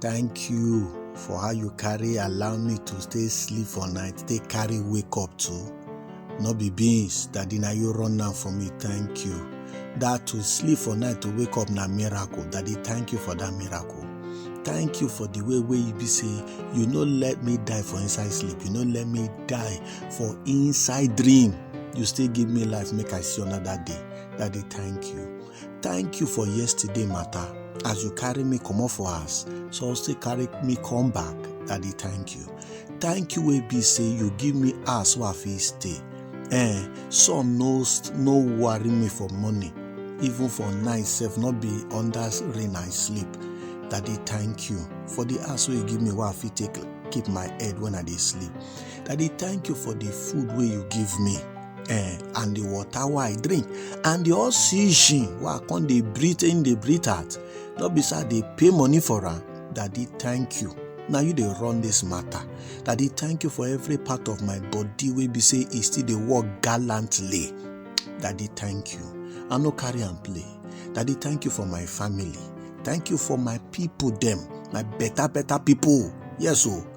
thank you for how you carry allow me to stay sleep for night take carry wake up too no be beans daddy na you run am for me thank you that to sleep for night to wake up na miracle daddy thank you for that miracle thank you for the way wey you be say you no let me die for inside sleep you no let me die for inside dream you still give me life make i see another day daddy thank you thank you for yesterday matter as you carry me comot for house so still carry me come back daddy thank you thank you wey be say you give me house wey i fit stay eh sun no no worry me for morning even for night sef no be under rain i sleep daddy thank you for the house wey you give me wey i fit take keep my head when i dey sleep daddy thank you for the food wey you give me eh, and the water wey I drink and the oxygen wey I come dey breathe in dey breathe out no be say I dey pay money for am daddy thank you na you dey run this matter daddy thank you for every part of my body wey be say e still dey work gallantly daddy thank you I no carry am play daddy thank you for my family thank you for my people dem my better better people yes o. Oh.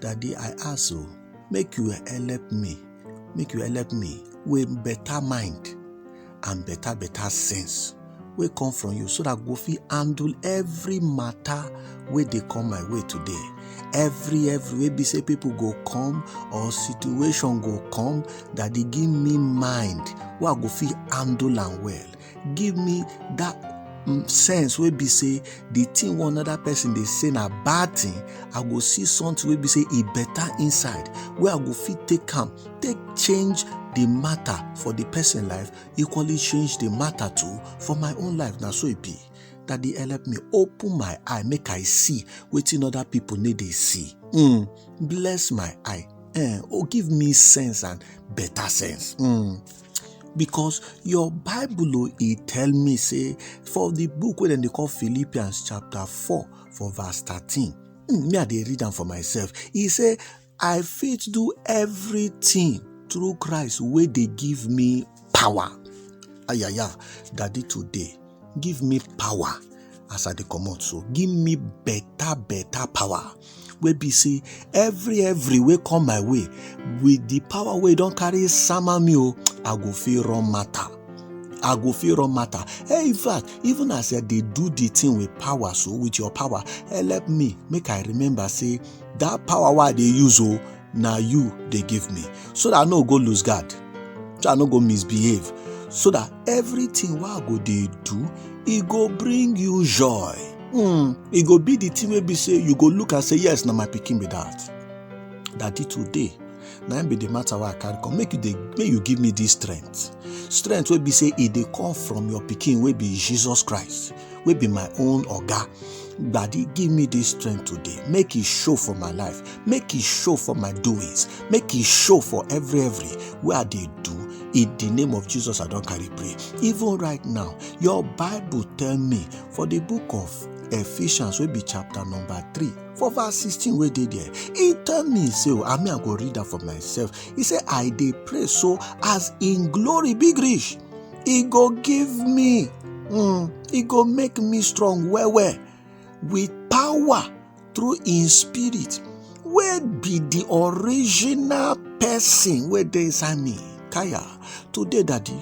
Daddy, I ask you, make you help me, make you help me with better mind and better, better sense wey come from you so that go fit handle every matter wey dey come my way today every every wey be say people go come or situation go come that dey give me mind wey i go fit handle am well give me that mm, sense wey be say the thing one other person dey say na bad thing i go see something wey be say e better inside wey i go fit take am take change the matter for the person life equally change the matter too for my own life na so e be that dey help me open my eye make i see wetin other people no dey see mm, bless my eye eh, oh give me sense and better sense mm. because your bible o e tell me say for the book wey dem dey call philippians chapter 4 for verse 13 hmm, me i dey read am for myself e say i fit do everything through christ wey dey give me power ayaya daddy today give me power as i dey comot so give me better better power wey be say every every wey come my way with the power wey don carry sama me o i go feel run matter i go feel run matter hey eh, in fact even as i dey do the thing with power so with your power help eh, me make i remember say that power wey i dey use o oh, na you dey give me so that i no go lose guard so i no go misbehave so that everything wey i go dey do e go bring you joy mm, e go be the thing wey be say you go look and say yes na my pikin be that daddy today na im be the matter wey i carry come make you dey make you give me this strength strength wey be say e dey come from your pikin wey be jesus christ wey be my own oga daddy give me this strength today make e show for my life make e show for my doings make e show for every every wey i dey do in the name of jesus i don carry pray even right now your bible tell me for the book of ephesians wey be chapter number three for verse sixteen wey dey there e tell me say o i mean i go read am for myself e say i dey pray so as im glory big reach e go give me um e go make me strong well well with power through im spirit wey be the original person wey dey inside me kaya today daddy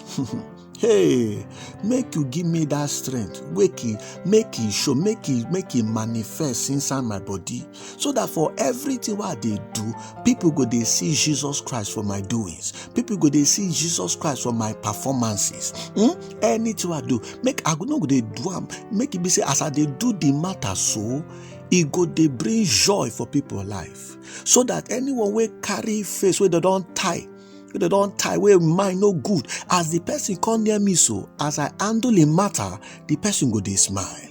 hey make you give me that strength make e make e show make e make e manifest inside my body so that for everything what they do people go they see jesus christ for my doings people go they see jesus christ for my performances hmm? anything i do make i go no go dey do am make it be say as i they do the matter so it go they bring joy for people life so that anyone will carry face where they don't tie wey dem don tie wey mind no good as the person come near me so as i handle a matter the person go dey smile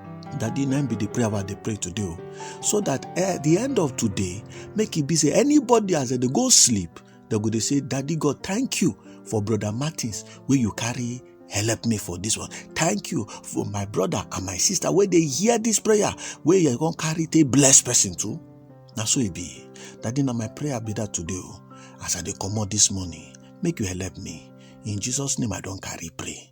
that the name be the prayer I they pray to do, so that at eh, the end of today make it be say anybody as they go sleep they go they say daddy god thank you for brother martins Will you carry help me for this one thank you for my brother and my sister Where they hear this prayer where you gonna carry a blessed person too Now so it be daddy now my prayer be that today oh, as i dey comot this morning make you help me in jesus name i don't carry pray